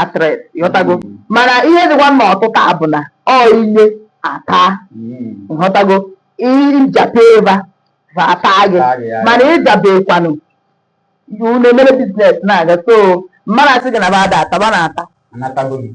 actress ịghọtago Mm. mana ihe dịkwa na ọtụtụ a bụ na ọ inye ata Mm. ịghọtago ịjape eva va ata gị Ata gị, ya. mana ịjabekwanụ na-emere biznes na-aga so mmadụ asị gị na ba ada ataba na ata Anatago m.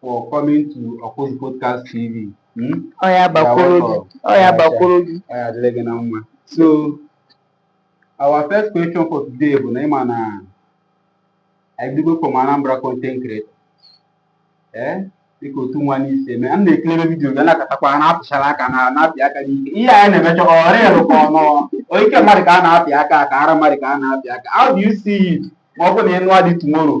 for coming to Ọkụzi Podcast TV. Hmm? Ọ ya gbakwuru gị. Ọ ya gbakwuru gị. Ọ ya adịrị gị na mma. So, our first question for today bụ na ịma na Igbo from Anambra content creator. Eh? Dịka otu nwa unu si eme. A na-ekirebe vidiyo ga na-akatakwa na-apịchara aka n'ala na-apị aka n'ike. Ihe anyị na-emecha ọ rịịrụ ka ọ nọ. Onye ike mmadụ ka a na-apị aka ka ara mmadụ ka a na-apị aka. How do you see it? Ma ọ bụ na ịnụa di tomorrow.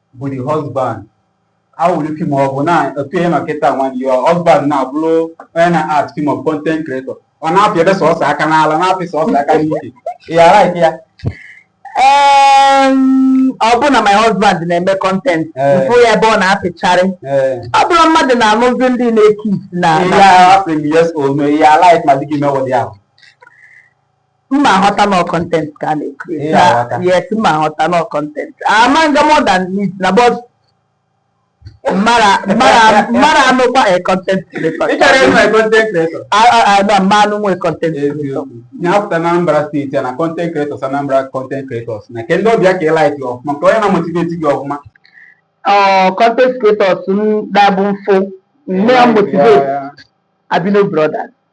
bụ the husband how will you feel ma ọ bụ na otu ihe nọkịta when your husband na-abụrụ onye na-act film or content creator ọ na-apị ebe sọsọ aka n'ala na-apị sọsọ aka n'ike ị ga-alike ya Em, ọ bụ na my husband na-eme kọntent Eh. mfụ ya ebe ọ na-apịcharị ee ọ bụrụ mmadụ na-anụzi ndị na-ekis na ihe na- a asịrị m yes or no ị ya like ma di gị mewe ụdị ahụ mma aghọta na content ka a na-ekiri yes mma aghọta na content ama nga more than it na but mara mara mara anụkwa a content creator ị chọrọ ịnụ a content creator na mma anụ nwe content creator na-apụta na Anambra steeti na content creators Anambra content creators na ke ndị ọ bụ ya ka ị like ọfụma ka onye na-amotivate gị ọfụma content creators m dabụ mfụ nne ya motivate Albino Brothers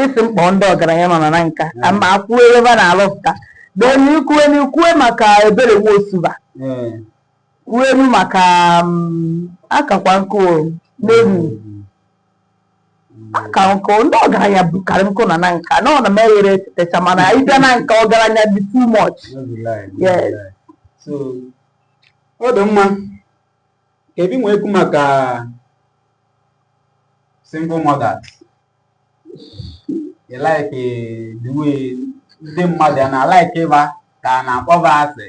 ịsị m kpọọ ndị ọgaranya nọ na Nanka ka m kwuo ebe ba na-alụpụta then ikwue na ikwue maka ebere nwa osuba ee kwuolu maka mm, akakwa nkụ o, n'elu aka nkụ ndị ọgaranya bukarị nkụ na Nanka na ọ na m eghere etetecha mana ịbịa Nanka ọgaranya dị too much no be lie, no be Yes. lie. so ọ dị mma ka ebi nwee ekwu maka single mothers ị like the way ndị mmadụ a na-alaiki ịba ka a na-akpọ ba asị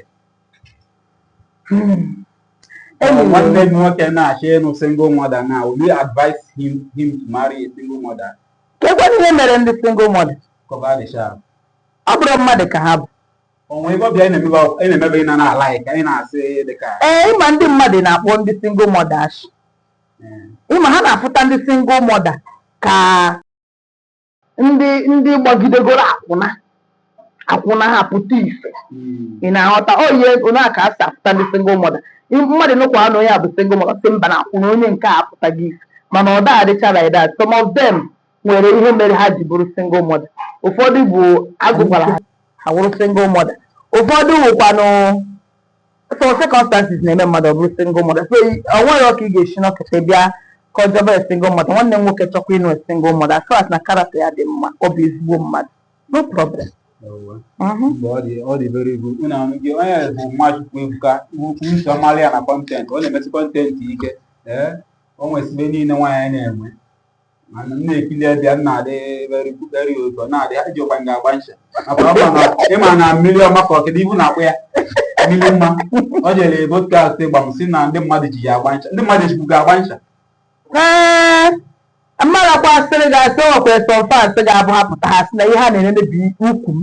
nwanne m nwoke na-achọ ịnụ single mother now will you advise him to marry a single mother? Kekwanụ ihe mere ndị single mother? Ka ọ ba dị sharp. Ọ bụrọ mmadụ ka ha bụ. O nwe ebe ọbịa na-emebe ị na na-alaiki, ị na-asị dịka. Ee, ịma ndị mmadụ na-akpọ ndị single mother ashị. ịma ha na-afụta ndị single mother ka ndị ndị gbagidegoro akwụna akwụna ha pụta ife ị na-aghọta oyi onye a ka a si afụta ndị single mother Ị- mmadụ nụkwa na onye a bụ single mother sị mba na akwụna onye nke a apụtaghị ife mana ọ da adịcha like that some of them nwere ihe mere ha ji bụrụ single mother ụfọdụ bụ ajụkwara ha ha wụrụ single mother ụfọdụ wụkwanụ so circumstances na-eme mmadụ ọ bụrụ single mother so i- o nwerọ ka ị ga-esi nọkata bịa kọjọba a single mother nwanne m nwoke chọkwa ịnụ a single mother so as na character ya dị mma ọ bụ ezigbo mmadụ no problem Ewe. Mhm. Mgbe ọ dị ọ dị very good. Unu anụ gị onye bụ Nwachukwu Ebuka ukwu nsọ mmalị ya na content ọ na-emesi content ike ee o nwesị ibe niile nwaanyị na-enwe mana m na-ekili ebe ya na-adị beriberi ụzọ na-adị ya jikwa gị agba ncha maka ọ ma na ịma na mmiri ọma ka ọkịda ibu na-akpọ ya mmiri mma ọ jere podcast gwa m sị na ndị mmadụ ji ya agba ncha ndị mmadụ ejikwu gị agba ncha ee mmadụ kwa asịrị ga-asị ọkwa some fans ga-abụ ha pụta ha sị na ihe ha na-ene bụ ukwu m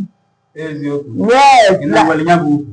eziokwu yes ị na na-enwere ya bụ ukwu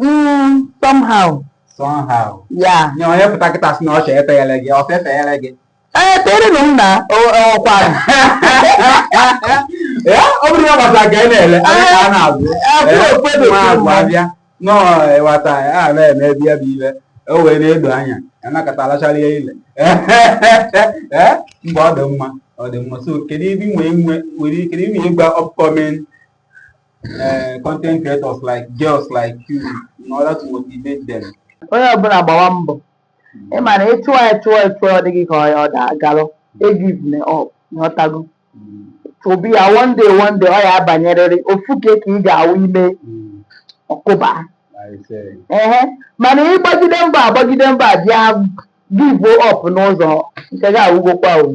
Mm, somehow. Somehow. Yeah. Nye onye pụta kịta sị na ọ chọrọ efeghere gị, ọ fefeghere gị. Ee, tere na m na ọkwa. Ya, ọ bụrụ na gbasa ka ị na-ele, anyị ka a na-azụ. Nwaazụ abịa, nọọ ịwata ya, a na-eme ebe ya bụ ibe, o wee na-edo anya, ya nakọta alachara ya ile. Mgbe ọ dị mma, ọ dị mma. So, kedu ibe i nwee nwee, nwere ike ịgwa upcoming uh, content creators like girls like you in order to motivate them? onye ọbụla gbawa mbọ ị ma na ị chụọ ya chụọ ya chụọ ọ dị gị ka ọ ya ọ da agalụ egivene up ị ghọtago obi ya one day one day ọ ya abanyerịrị ofu ka ka ị ga-awụ i mee Mm, ọ kụba Isee. ehe mana ị gbagide mbọ agbagide mbọ bịa give up n'ụzọ nke gị agwụgokwa o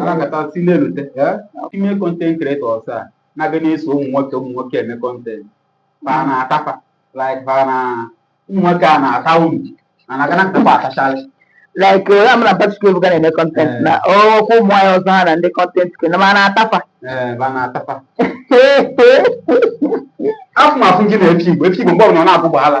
anakọta si na-erute ime content creators a na-aga na-eso ụmụ nwoke ụmụ nwoke eme content fa na-ata fa like fa na ụmụ nwoke a na-ata unu na na gana kpakpa atachala like onye ama na Patrick Ebuka na-eme content Eh. na ọkwa ụmụ nwaanyị ọzọ ha na ndị content ke na ma na-ata fa ee fa na-ata fa afụ m afụ gị na epi igbo epi igbo mgbe ọbụla ọ na-abụ gbaala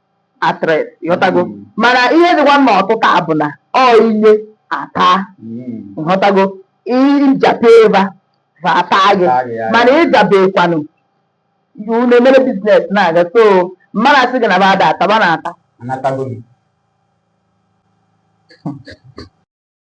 actress ị ghọtago Mm. mana ihe dịkwa na ọtịta a bụ na ọ i nye a taa Mm. ị ghọtago ị jape va va ata gị Taa gị, ya. mana ị jabekwanụ unu emere business na-aga so mmadụ asị gị na ba ada ata ba na-ata Aghọtago m.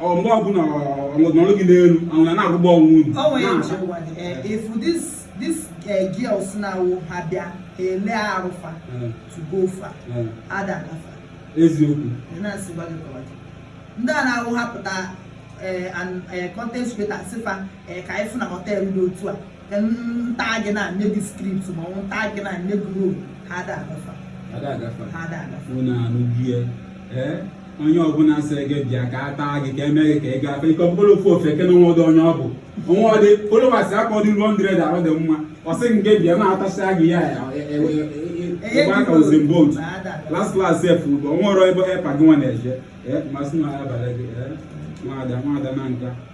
ọ mgbe ọbụla ọnọdụ gị n'elu ahụ na na-agụgba ọnwụ unu o nwere eji ụwa dị eh, if this this eh, girls na-awụ ha bịa ha ele arụ fa Eh, to go far eh, ada agafa eziokwu ị na-asị gwa gị kọwa gị. ndị a na-awụ ha pụta eh, and, eh, content creator sị fa eh, ka anyị fụ na hotel dị otu a nta gị na nye gị script ma ọ nta gị na nye gị role ha ada agafa ha ada agafa ha ada agafa unu anụgie ee onye ọbụla sịrị gị bịa ka a taa gị ka eme gị ka ị gafe ike ọbụla ofu ofe ke na o nwedụ onye ọ bụ o nwedị followers akọ dị hundred arụ dị mma ọ sị gị bịa na-atasịa gị ya ịgba aka ozin bot las las sef bụ o nwerọ ebe epa gị nwa na-eje masị na abalị gị nwaada nwaada na nka